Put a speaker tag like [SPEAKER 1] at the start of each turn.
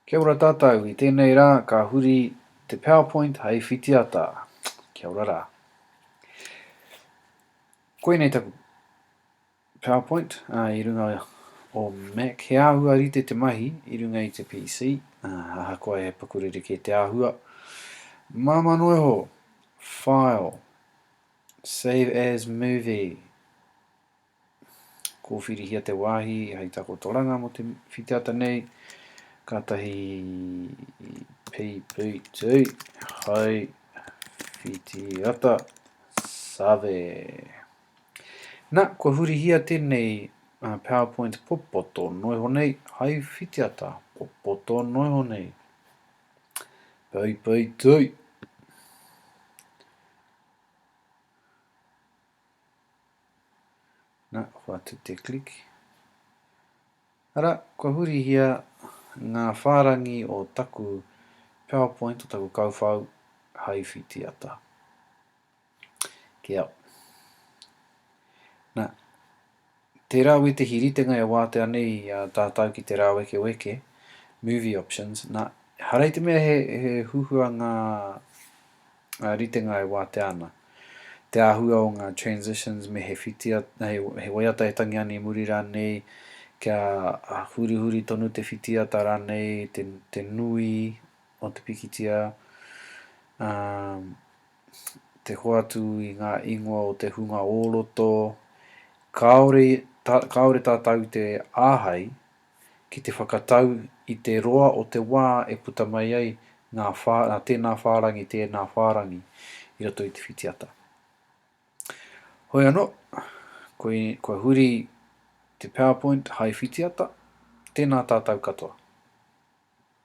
[SPEAKER 1] Kia ora tātou, i tēnei rā ka huri te powerpoint hei whitiata. Kia ora rā. Koinei taku powerpoint uh, i runga o Mac. He āhua rite te mahi i runga i te PC, uh, ahakoa he pakurere kē te āhua. Māma noiho, file, save as movie, Kōwhirihia te wāhi hei takotoranga mō te whitiata nei, kātahi PPT hai whitiata save. Na, kua hurihia tēnei PowerPoint popoto noiho nei hai whitiata popoto noiho nei. PPT. Na, kua tu te click. Ara, kua hurihia ngā whārangi o taku PowerPoint, o taku kauwhau, hai whitiata. Kia. Na, tērā wētehi ritenga e wātea nei a tātau ki te rāwekeweke, movie options, na, harei te mea he, he huhua ngā ngā ritenga e wātea ana, te āhua o ngā transitions me he whitia, he, he waiata e tangi ana i muri rānei, kia hurihuri tonu te whitiata rānei, te, te nui o te pikitia, um, te hoatu i ngā ingoa o te hunga o roto, kāore, tā, kāore tātou te āhei ki te whakatau i te roa o te wā e puta mai ai ngā whā, nā tēnā whārangi, tēnā whārangi i roto i te whitiata. Hoi anō, koi, kua huri te PowerPoint hai whitiata, tēnā tātou katoa.